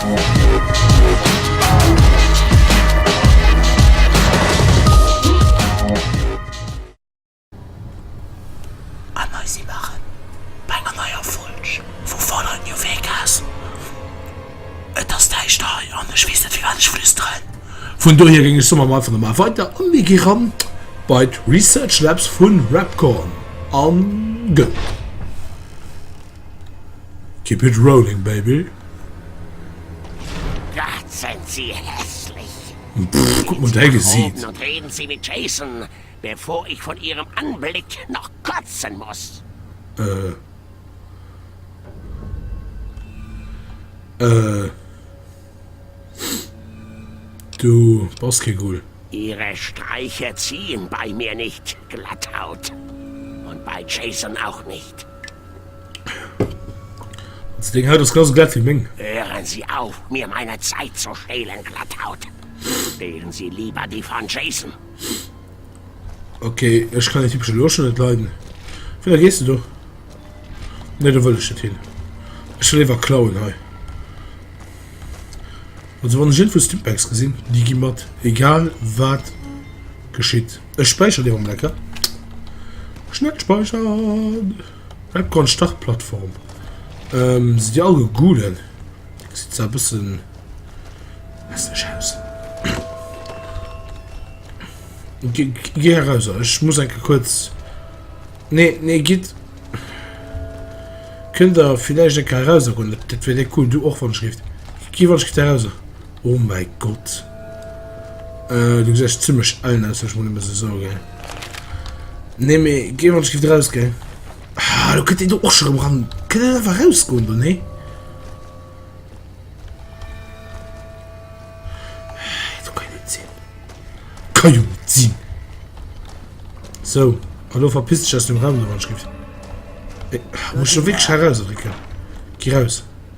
An hei si mer erëm bei enger neier Folg vu Follow New Vegas. Et ass däischter hei an ech weess net firwat ech flüsteren. Vun dohier géing ech soen, maache mer einfach normal weider a mir gi ran bei d'Research Labs vu Rapcorn. An go! Keep it rolling baby. Gott sen si hässlich. Pff, guck mol däi Gesiit. Und reden sie mit Jason, bevor ich von ihrem Anblick noch kotzen muss. Äh. Äh. Du bass kee Ghoul. Ihre Streiche ziehen bei mir nicht, Glatthaut. Und bei Jason auch nicht. Also deng Haut ass ganz glatt wéi meng. Hören Sie auf, mir meine Zeit zu stehlen, Glatthaut. Wählen Sie lieber die von Jason. Okay, ich kann den typischen Loschen nicht leiden. Wie gehst du doch? Ne, da will ich nicht hin. Ich will lieber klauen hei. Also wann ich irgendwo Stimpacks gesehen, die gehen mit. Egal was geschieht. Ech späichern dee Moment, ja. Schnell speichern. Webcam Startplattform. Ähm, si Dir all gegoogeln? Gesit zwar e bëssen hässlech aus. Ge Geh heraus, ech muss enke kuerz. Nee, nee, gitt. Kënnt Der villäicht enke eraus goen? Dat wär déi cool. Du och, wann ech rift. Gi wann ech gitt eraus. Oh mäi Gott. Äh, du gesechs zimmlech ellen aus, ech mol emmer se so ge. Nee, mee geh wann skift raus ge. Ah, du könnt du och schon am ran. Könnt du einfach rausgoen, du nee? Du kann nicht sinn. Kann jo nicht sinn. So, hallo verpiss dich aus dem Raum, du wann skift. Äh, muss schon wirklich heraus, Rika. Geh raus.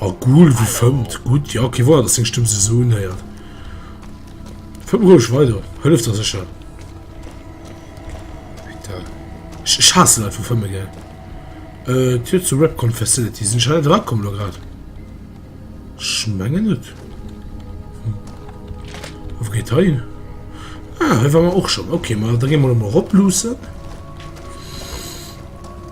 Oh cool wéi fëmmt gutt jo kee Wouer dass seng Stëmm se esou unhéiert. Fëmm roueg weider, hëlleft der sécher. Ech ech haasse Leit vu fëmme gell. Äh d'Tür zur Repcon Facility sinn ech hei dra komm lo grad? Ech mengen net. Hm. A wou geet hei hin? Ah hei war mer och schonn. Okay ma da gi mer emol erop luussen.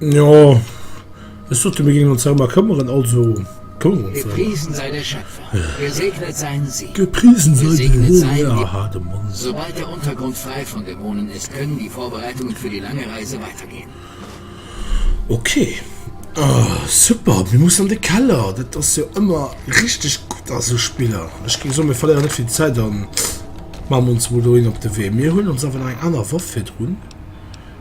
Jo, ech sot jo, mir géingen ons därëmmer këmmeren, also këmmere mer ons därëmmer. Gepriesen sei der Schöpfer, gesegnet sein sie, gepriesen sei de Här, aha, de Mann. Sobald der Untergrund frei von Dämonen ist, können die Vorbereitungen für die lange Reise weitergehen. Ok, super, mir mussen an de Keller, dat ass jo ëmmer richteg gutt a sou Spiller. Ech géing soen, mir verléieren net vill Zäit a maachen ons mol dohin op de Wee. Mir huelen ons awer nach eng aner Waff virdrun,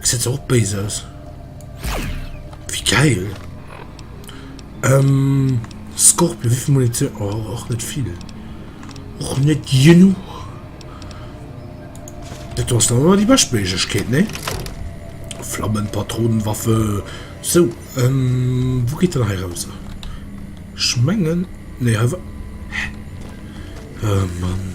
Gesäit zwar och béis aus. Wéi geil! Ähm, Scorpion, wéivill Munition? Oh, och net vill. Och net genuch. Dat ass dann awer déi bescht Méiglechkeet, ne? Flammenpatronenwaffe. So, ähm, wou geet dann hei raus? Ech mengen, ne, hei war... Hä? Oh Mann.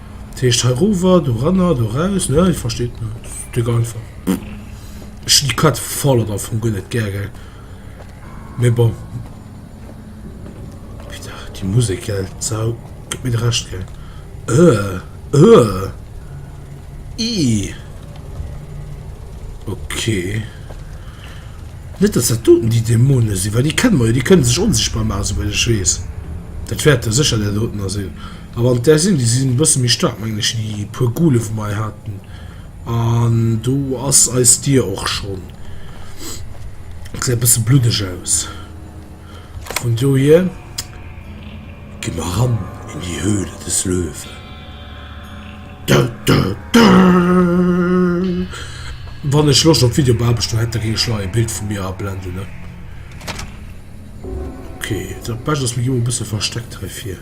Dat heescht heirover, doranner, doraus, ne? Dir versteet, ne? Dat ass dicks einfach. Ech déi Quête folle am Fong guer net gär, gell? Mee bon. Putain, déi Musek, gell? D'Sau gëtt mir de Rescht, gell? Ëh, ëh! Ih! Okay. Net, dass dat doten déi Dämonen sinn, well déi kenne mer jo, déi kënne sech onsichtbar maachen, souwäit ech weess. Dat wäerte sécher där dotener sinn. A wann et där sinn, déi sinn e bësse méi staark, mengen ech, déi puer Goole wou mer hei haten. An do ass eis Dier och schonn, gesäit e bësse bluddeg aus. Vun dohier gi mer ran in die Höhle des Löwen. Dö dö dö! Wann ech Loscht op Videobearbechtung hätt, da géing ech lo e Bild vu mir ablenden, ne? Okay, dat Bescht ass, mir gi mol e bësse versteckt heifir.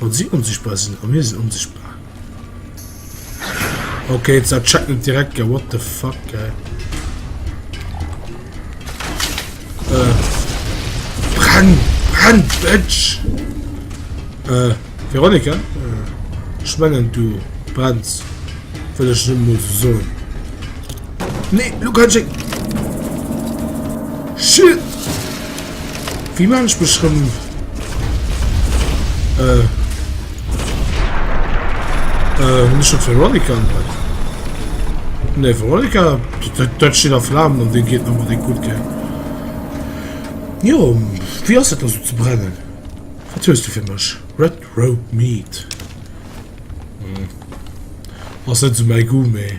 Wann si onsichtbar sinn a mir sinn onsichtbar. Ok, dat checkt net direkt ge what the fuck ge. Äh. Brenn! Brenn, Bitch! Äh, Veronika? Äh, ich mengen, du brennst. Will ich nur mal so sagen. Nee, du kannst ich... Shit! Wie man ich beschrieben? Äh... Äh, nicht schon Veronica anhalten. Ne, Veronica, dat steet a Flammen an de geet nochmal de gut ge. Jo, wie ass dat ze brennen? Wat hues du fir mech? Red Road Meat. Hm. Ass net zu méi Gu méi.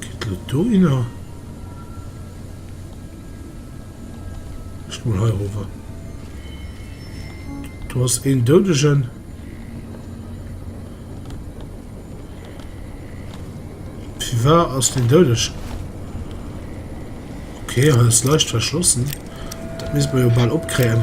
Geet lo dohinner? Ech mol hei rower. Do ass een Doudegen. Firwar ass den doudeg? Okay, hei ass leicht verschlossen. Dat misst mer jo bal opkréien.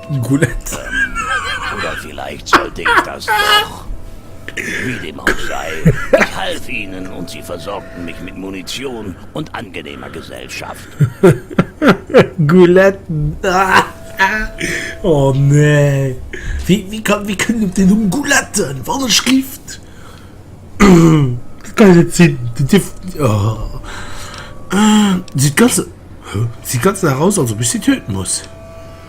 D'Goulette. Ähm, oder villäicht sollt ech das doch. Wie dem auch sei, ich half ihnen und sie versorgten mich mit Munition und angenehmer Gesellschaft. Gouletten. Oh nee. Wie, wie kann, wie kënnt op den Numm Gouletten? Wat e Schrift! Dat kann jo net sinn. Déi dierf, oh. Sieht ganz, sieht ganz nach aus, als ob ech se töten muss.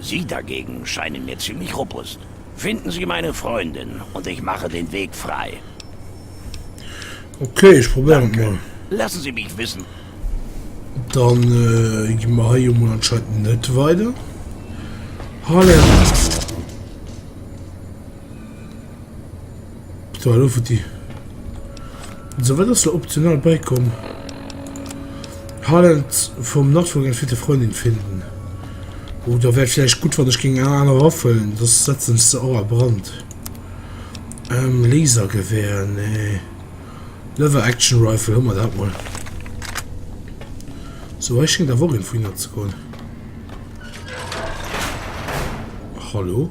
Sie dagegen scheinen mir ziemlich robust. Finden Sie meine Freundin und ich mache den Weg frei. Okay, ech probéieren et mol. Lassen Sie mich wissen. Dann gi mer hei jo mol anscheinend net weider. Harlem. So hallo Futti. So wat ass lo optional beikomm? Highland vom Nachfolger für die Freundin finden. Oh, da wär vielleicht gut wann ech ging eng aner Waffen, das setzen ech se och a Brand. Ähm, Lasergewehr, nee. Lever Action Rifle, hu mer dat mol. So hei schéngt awer och een vu hinner ze kommen. Hallo?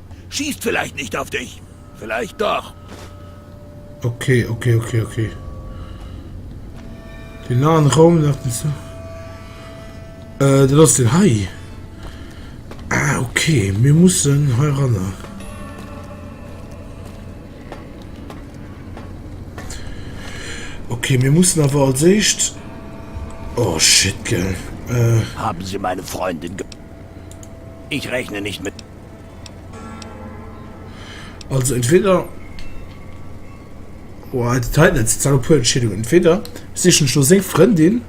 Schießt vielleicht nicht auf dich. Vielleicht doch. Ok, ok, ok, ok. Den nahen Raum nach den Zug. Äh, du lass den Hai. Ah, ok. Wir müssen hier ran. Okay, wir müssen aber als echt. Oh shit, gell. Äh. Haben Sie meine Freundin ge Ich rechne nicht mit. Also entweder oh, dat hei net zerre puer Entscheedung entweder sichen ech lo seng Frëndin,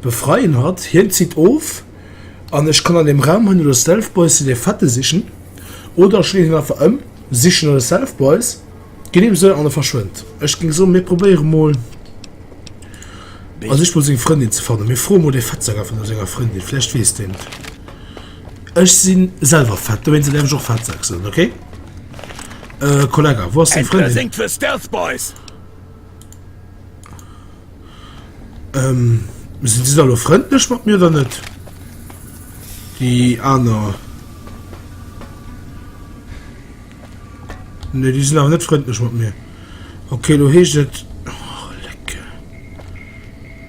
befreien hatt, hien zitt of an ech kann an dem Raum hunn oder Stealth Boys sinn dee Fette sichen oder ech leeën hien einfach ëm, sichen oder Stealth Boys ginn him sou an e verschwënnt. Ech géing soen, mir probéiere mol a sich mol seng Frëndin ze fannen. Mir froe mol dee Fettsack einfach no senger Frëndin, vläicht weess deen et. Ech sin selwer fett, dowéinst däerf ech och Fettsak soen, ok? Euh, Kollegga, wou ass deng Frëndin? Entweder séngt fir Stealth Boys! Ähm, sinn si da lo frëndlech mat mir oder net? Déi aner. Nee, déi sinn awer net frëndlech mat mir. Ok, lo heescht et.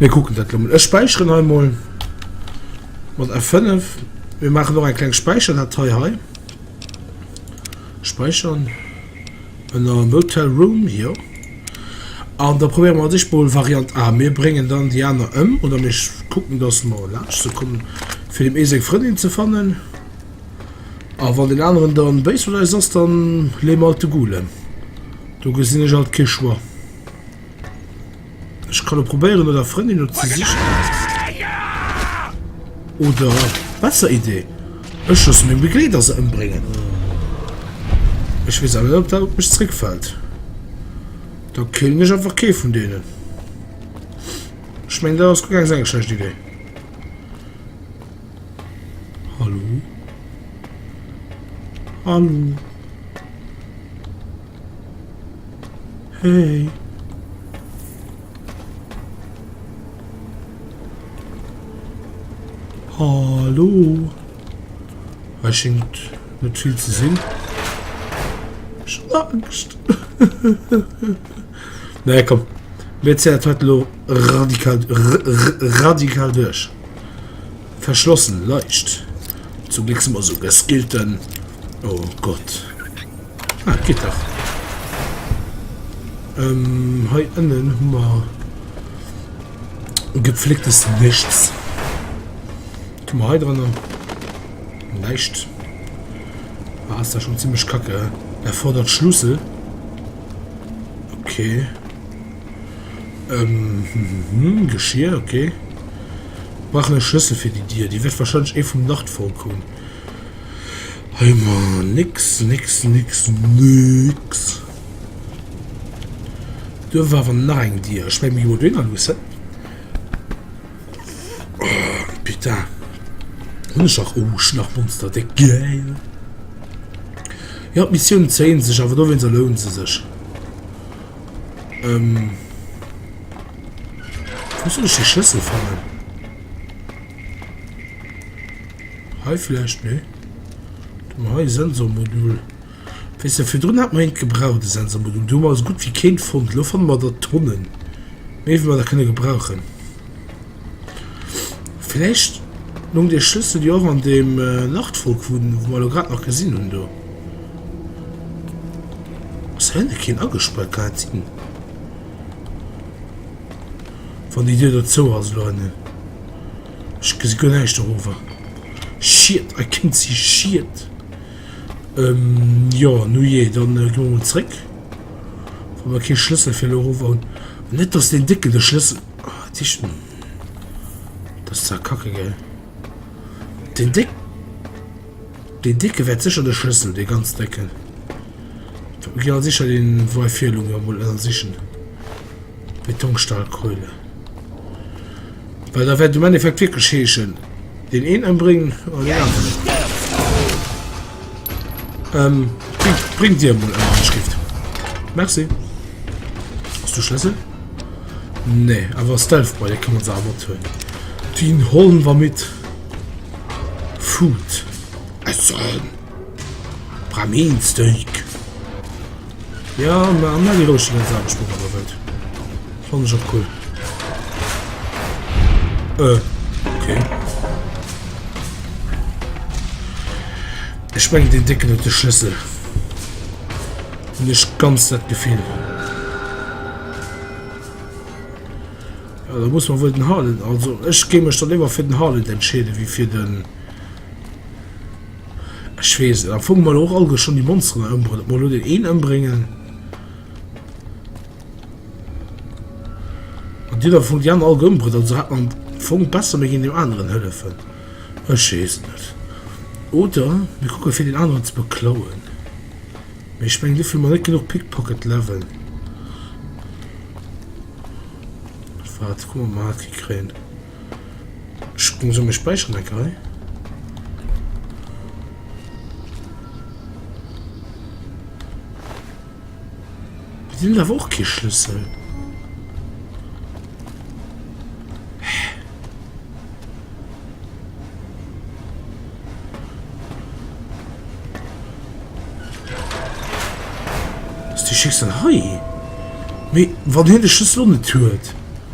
Mir kucken dat lo mol. Ech späicheren hei mol mat F5. Mir maachen och eng kleng Späicherdatei hei. Späichern ënner Motel Room jo. An da probéiere mer sech mol Variant A. Mir bréngen dann déi aner ëm oder mir kucken, datt mer laanscht ze kommen, fir dem ee seng Frëndin ze fannen. A wann den aneren dann béis mat eis ass, dann leeë mer alt de Gule. Do gesinn ech alt kee Choix. Ech kann probéieren oder Frëndin oder ze sichen. Oder besser Idee. Ech muss mir Begleiter se ëmbringen. Ech wees awer net, ob dat op mech zréckfällt. Da killen ech einfach kee vun deenen. Ich meine, da ass gar keine schlechte Idee. Hallo? Hallo? Hey. Hallo. Hei schingt net vill ze sinn. Schlangst. Nee, komm. Mir zéien dat lo radikal, radikal duerch. Verschlossen, Leicht. Zum Glück si mer esou geskillten. Oh Gott. Ah, et geet dach. Ähm, hei ënnen hu mer gepflegtes Nischts. Tu mer hei drënner. Näischt. Ah, ist da schon ziemlich kacke. Er fordert Schlüssel. Okay. Ähm, hm, Geschirr, okay. Brauchen einen Schlüssel für die Dier. Die wird wahrscheinlich eh vom Nachtfall kommen. Hei mar nix nix nix nix. Do war awer nach eng Dier. Ech mengen mir gi mol dohinner luussen. Oh putain. Hunn ech nach Ousch nach monsterdéck. Geil. Jo d'Missioun zéien sech awer dowéinst a loun se sech. Ähm. Wou soll ech de Schlëssel fannen? Hei vläicht, nee? Do hu mer hei e Sensormodul. Weess de, virdrun hat mer eent gebraucht, e Sensormodul. Do hu mer esou gutt wéi keent fonnt. Elo fanne mer der Tonnen. Méi wéi mer der kënne gebrauchen. Vläicht lung dee Schlëssel jo och an deem Nachtwolk, wou mer elo grad nach gesinn hunn do. Ass hei net keen agespaart? Kann dat sinn? Wann déi Dier do zou ass elo hënnen. Ech gesi guer näischt dorawer. Shit, I can't see shit. Jo, nujee, dann goe mer mol zréck. Wa mer kee Schlëssel fir elo erover hunn. Net dass deen Décken de Schlëssel. Oh, dat heescht. Dat ass zwar kacke, gell? Deen Déck. Deen Décke wäert sécher de Schlëssel, dee ganz Décken. Mir ginn al sécher deen Wei fir elo emol ënnersichen. Betonstahlkeule. Well da wäert um Endeffekt wierklech heeschen, deen een ëmbréngen oder deen aneren. Ähm, bring, bring dir mol an Schrift. Merci. Hast du Schlüssel? Nee, aber Stealth Boy, den kann man selber tun. Den holen wir mit. Food. Essen. Bramin Steak. Ja, ma an eng Loosche ganz aardig mat der Welt. Fand ich auch cool. Äh, okay. Ich meine, den Dicken hat den Schlüssel. Und ich ganz das Gefühl. Ja, da muss man wohl den Harley. Also, ich gehe mich dann immer für den Harley entscheiden, wie für den. Ech wees et, am Fong mol och all geschonn déi Monsteren do ëmbruet, ob mer elo deen een ëmbréngen an déi do am Fong déi aner all gëu ëmbruet, also hat mer am Fong besser mir ginn deem aneren hëllefen. Ech wees et net. Oder mir kucke fir deen aneren ze beklauen. Mee ech mengen dofir hu mer net genuch Pickpocket Level. Waart, kucke mer mol wat fir kréien. Solle mir späicheren enke hei? Di hun awer och kee Schlüssel. Ass de Schlüssel hei? Mee wann hien de Schlüssel och net huet?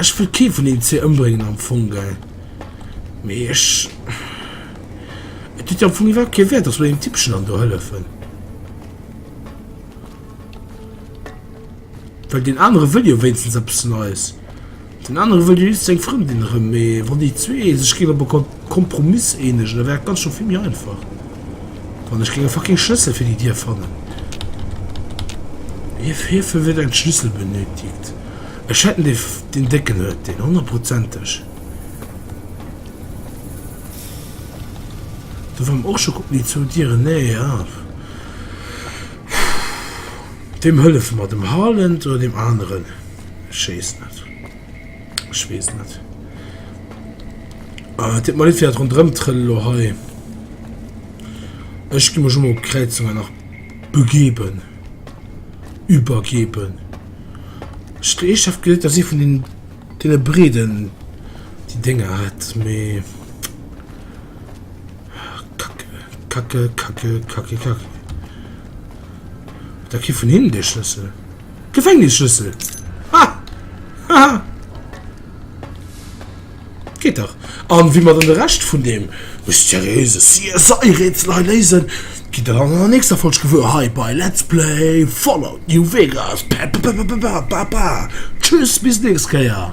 Ech wëll kee vun deenen zwee ëmbréngen am Fong, gell? Mee ech. Et huet jo am Fong iwwerhaapt kee Wäert, dass mer deem Tippchen dann do hëllefen. Well deen anere wëll jo wéinstens eppes Neies. Den anere wëll jo just seng Frëndin erëm, mee wann déi zwee sech géinge bekom. Kompromiss eenegen, da wär et ganz scho vill méi einfach, wann ech géing e fucking Schlëssel fir déi Dier fannen. Hiefir wier en Schlüssel benötigt. Ech hätt en, dee deen décken huet deen, honnertprozenteg. Do war mer och scho kucken, déi zwou Dieren, nee ah. Weem hëllefe mer, dem Harland oder deem aneren? Ech weess net. Ech wees net. Ah, et deet mer leed fir dat Rondrëmtrëll lo hei. Ech gi mech emol op d'Kräizung hei nach begeben. Übergeben. Ech dréi Chef geet, dass si vun den deene Breden déi Dénger hat, mee Kacke, Kacke, Kacke, Kacke, Kacke. Da kritt vun hinnen dee Schlëssel. Gefängnisschlüssel. Ha! Ha! Geet dach. An wéi mer dann de Rescht vun deem mysteriöse CSI-Rätsel hei léisen, gitt der dann an der nächster Folg gewuer hei bei Let's Play Fallout New Vegas. Ba-ba-ba-ba-ba-ba-ba-ba! Tschüss, bis d'nächst Kéier!